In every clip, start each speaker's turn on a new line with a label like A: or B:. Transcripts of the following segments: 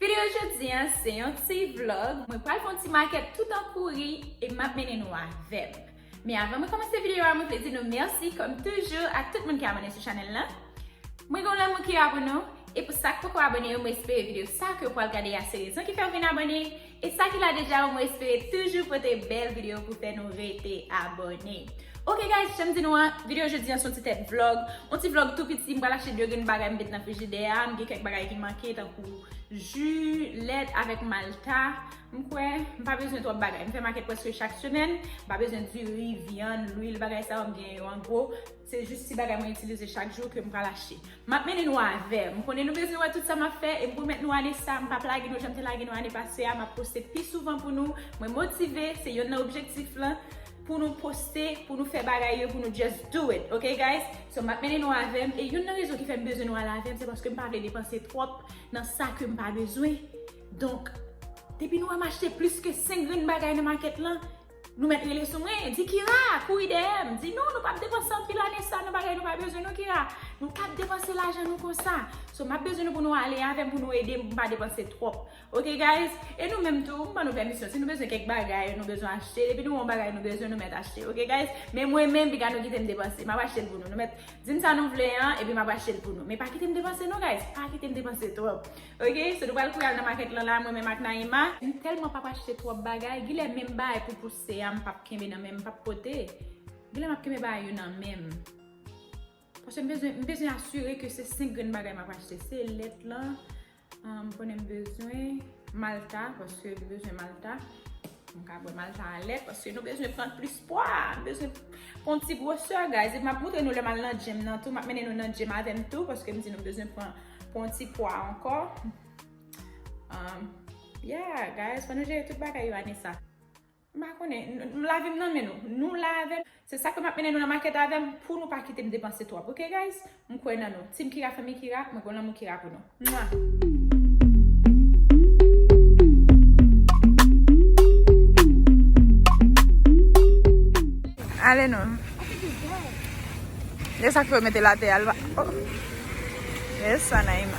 A: Video jodi an se yon ti vlog, mwen pral fè yon ti makèt tout an kouri e map mennen nou avèm. Men avan mwen kòmanse video a mwen vle di nou mèsi kòm toujou ak tout moun ki abòne sou chanèl lan. Mwen gen yon lanmou ki la pou nou e pou sak poko abòne yo mwen espere video sa ke ou pral gade a se rezon ki fèw vin abòne e sa ki la deja yo mwen espere toujou pote bèl video pou fè nou rete abòne. Ok guys janm di nou an video jodi an se yon ti tèt vlog, yon ti vlog tou piti m pral achte 2 grenn bagay m met nan frijidè a, m gen kèk bagay ki manke tankou. pou ju, lèt avèk malta. M kwè m pa bezwen twòp bagay. M fè makèt prèske chak semèn. M pa bezwen diri, vyann, lwil, bagay sa yo. M genyen yo an gwo. Se jis ti bagay mwen itilize chak jou ke m pral achte. M ap mennen nou avè m. M konnen nou bezwen wè tout sa m ap fè e m pwomèt nou ane sa m p ap lage nou jan m te lage nou ane pase a. M ap poste pi souvan pou nou. Mwen motive, se yonn nan objektif lan. pou nou poste, pou nou fè bagay yo, pou nou just do it, ok guys? So map mennen nou avèm, e youn nan rezon ki fèm bezwen nou al avèm, se paske m pa vle depanse twòp nan sa kem pa bezwen. Donk, depi nou wèm achte plis ke 5 grenn bagay nan makèt lan, nou mèt rele sou mwen, di Kira, kouri dèyèm, di nou, nou pap depanse anpil ane sa nan bagay nou pa bezwen non Kira, nou pap depanse lajan nou konsa. So map bezwen nou pou nou ale avèm, pou nou edem pou m pa depanse twòp. Ok guys e nou menm tou m ban nou pèmisyon si nou bezwen kèk bagay nou bezwen achte depi nou wè yon bagay nou bezwen nou mèt achte ok guys men mwen menm piga nou kite m depanse map achte l pou nou nou mèt di m sa nou vle an epi map achte l pou nou men pa kite m depanse non guys pa kite m depanse twòp ok so nou pral kouri al nan makèt lan la mwen menm ak Naïma m tèlman pap achte twòp bagay gilè menm bagay pou pouse a m pap kenbe nan men m m pap pote gilè map kenbe bagay yo nan men m. Paske m bezwen, m bezwen asire ke se 5 grenn bagay m ap achte. Se lèt lan, m konnen m bezwen malta, paske m bezwen malta. M ka bwè malta a lèt, paske nou bezwen pran plis pwa. M bezwen pran ti gwosè, guys. E m ap montre nou lè m al nan gym nan tou. M ap mennen nou nan gym avè m tou, paske m di nou m bezwen pran pran ti pwa ankò. Yeah, guys. Fò nou jere tout bagay yo ane sa. M pa konnen. Lavi m nan men nou. Nou la avè m. Se sa k fè m ap mennen nou nan makèt avè m pou nou pa kite m depanse twòp ok guys. M kwè nan nou. Team Kira Fanmi Kira, mwen gen lanmou Kira pou nou. Mwah! Ale nou. E sa k fè w mete l atè a? L pa. Oh! Yes, Anaïma.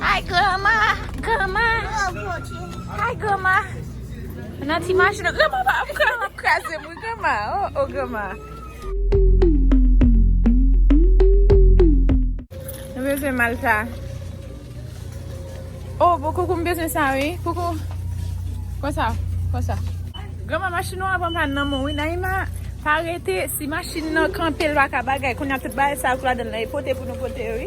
A: Hi grandma, grandma, hi grandma Mwen nan ti machin an, grandma pa ap pran, ap kraze m wi grandma, oh oh grandma Nou bezwen mal sa Oh bon koukou m bezwen sa wi, koukou Konsa, konsa Grandma machin ou an ap anpàn nan mwen wi, Naïma Pa rete, si machin nan kanpe l pa ka bagay, kounya tout bagay sa yo k ladan l lan e pote pou nou pote yo wi.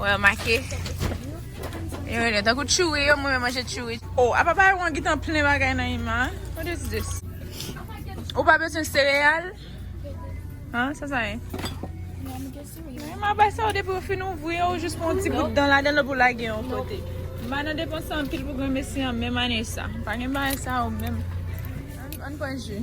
A: Wè make. Yo rele tankou tchoui yo mwen manje tchoui. Oh, apa pa yon gitan plen bagay nan ima. What is this? Ou pa bezwen sereyal? Ha, sa sa ye? Ima bay sa ou depi ou fin ouvri yo ou jis pran yon ti bout dan ladan l pou lage yon kote. Ima nan depanse anpil pou granmesi an menm ane sa. Pa gen bagay sa yo menm. Ann pran ji.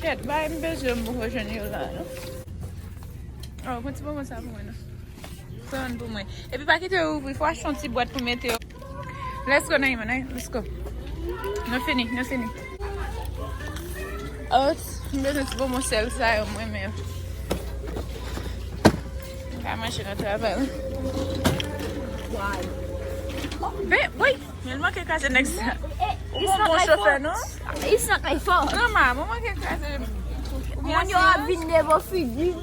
A: Ket bay m bezwen m poko jwenn yo la non. Oh pran ti bonbon sa pou mwen non. Pran youn pou mwen. Epi pa kite yo ouvri fò achte yon ti bwat pou mete yo. Let's go Naïma Naïma let's go. Nou fini nou fini. Ot m bezwen ti bonbon sèl sa yo m renmen yo. M ka manje nan travay lan. Why?
B: Be wait.
A: Mwen manke kraze nèg sa. Ou pa bon
B: chofè non.
A: It's not my fault.
B: Grandma, mwen manke kraze. Moun yo ap vin devan figi m.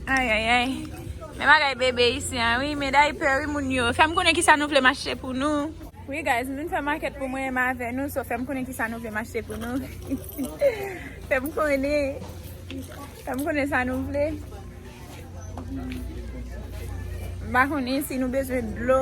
B: Ay
A: ay ay. Men bagay bebe isi an wi. Men daypè wi moun yo. Fè m konnen kisa nou vle m achte pou nou. Wi guys, m vin fè makèt pou mwen menm avè nou. So fè m konnen kisa nou vle m achte pou nou. Fè m konnen. Fè m konnen sa nou vle. M pa konnen si nou bezwen dlo.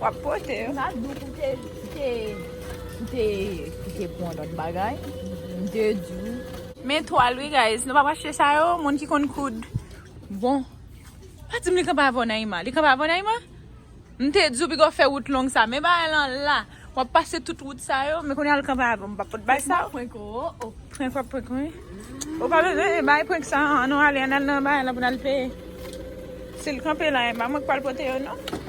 A: Wap pote yo. Mta diw pou te
B: pou te kite pwan lot bagay mte diw. Men twal wi
A: guys nou pap achte sa yo moun ki konn koud bon pa dim li kanpe avèw Naïma li kanpe avèw Naïma mte diw pigaw fè wout long sa men bagay lan la. Wap pase tout wout sa yo. Men kounye a li kanpe avèw m pap pot bay sa. Prank wap prank oh oh. Prank wap prank wi. Ou pa bezwen e bay prank sa an non ale an al nan bagay la pou nal peye. Sil kanpe la e pa mwen k pral pote yo non.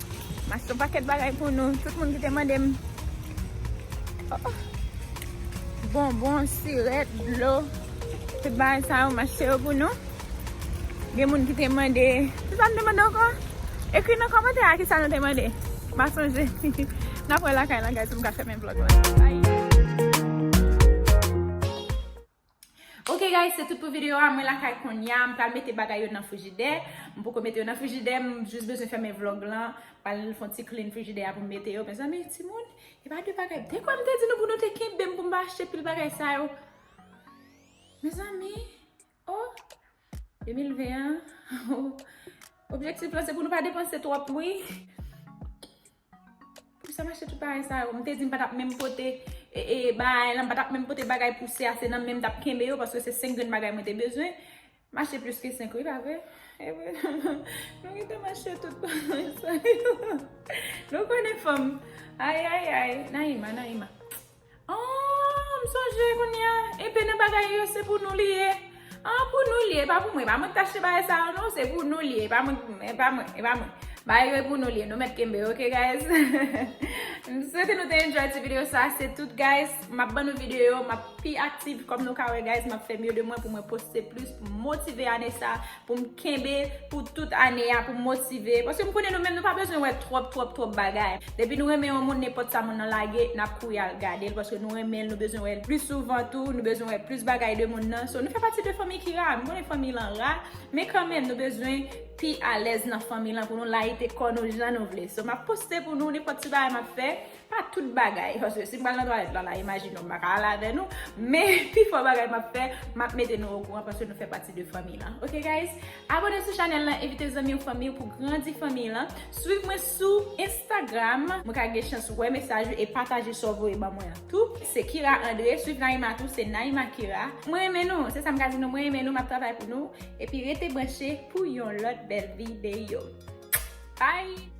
A: M achte yon pakèt bagay pou nou. Tout moun ki te mande m. Bonbon, sirèt, dlo. Tout bagay sa yo m achte yo pou nou. Gen moun ki te mande. Ki sa m te mande ankò? Ekri nan kòmantè a ki sa nou te mande. M pa sonje. N ap wè lakay la guys pou m ka fèmen vlog la. Ok guys se tout pou video a mwen lakay konya m pral mete bagay yo nan frijidè m poko mete yo nan frijidè m jis bezwen fèmen vlog lan pral fon ti clean frijidè a pou m mete yo mezanmi timoun e pa de bagay dekwa m te di nou pou nou te kenbe m pou m pa achte pil bagay sa yo mezanmi oh 2020 an oh objektif lan se pou nou pa depanse twòp wi. Pou sa m achte tout bagay sa yo? M te di m pa t ap menm pote baay lan, m pa t ap menm pote bagay pou sè a, se nan menm m t ap kenbe yo paske se 5 grenn bagay mwen te bezwen. M achte plis ke 5 wi, pa vre? E vre nan. Nou gen tan m achte tout bagay sa yo. Nou konnen fanm. Ayayay. Naïma, Naïma. Aah m sonje kounya enpe nan bagay yo se pou nou li ye ah pou nou li ye epa pou mwen epa mwen ki t achte bagay sa yo non se pou nou li ye epa mwen epa mwen epa mwen bagay yo e pou nou li ye nou mèt kenbe yo ok guys m swete nou te enjoy ti video sa se tout guys m ap ban nou video yo m ap pi aktif kòm nou ka wè guys m ap fè mye de mwen pou mwen poste plis pou m motive ane sa. pou m kenbe pou tout ane a, pou m motive, paske m konnen nou menm nou pa bezwen wè twòp twòp twòp bagay. Depi nou renmen yon moun nenpòt sa moun nan lage, n ap kouri al gade l paske nou renmen l, nou bezwen wè l plis souvan tou, nou bezwen wè plis bagay de moun nan. So nou fè pati de fanmi ki ra, m konnen fanmi lan ra, men kanmenm nou bezwen pi alèz nan fanmi lan pou nou layite kò nou jan nou vle. So m ap poste pou nou nenpòt ti bagay m ap fè, Pa tout bagay, paske si m pral nan twalèt lala, imajine w m pa ka al avè nou, men pi fò bagay m ap fè, m ap mete nou okouran paske nou fè pati de fanmi lan. Ok guys? Abone sou chanèl lan, envite zanmi w, fanmi w pou grandi fanmi lan. Swiv mwen sou Instagram, mwen ka gen chans wè mesaj ou e pataje sa w voye ban mwen an tou. Se Kira Andre, swiv Naïma tou, se Naïma Kira. Mwen renmen nou, se sa m ka di nou, mwen renmen nou, m ap travay pou nou. Epi rete branche pou yon lòt bèl videyo. Bye!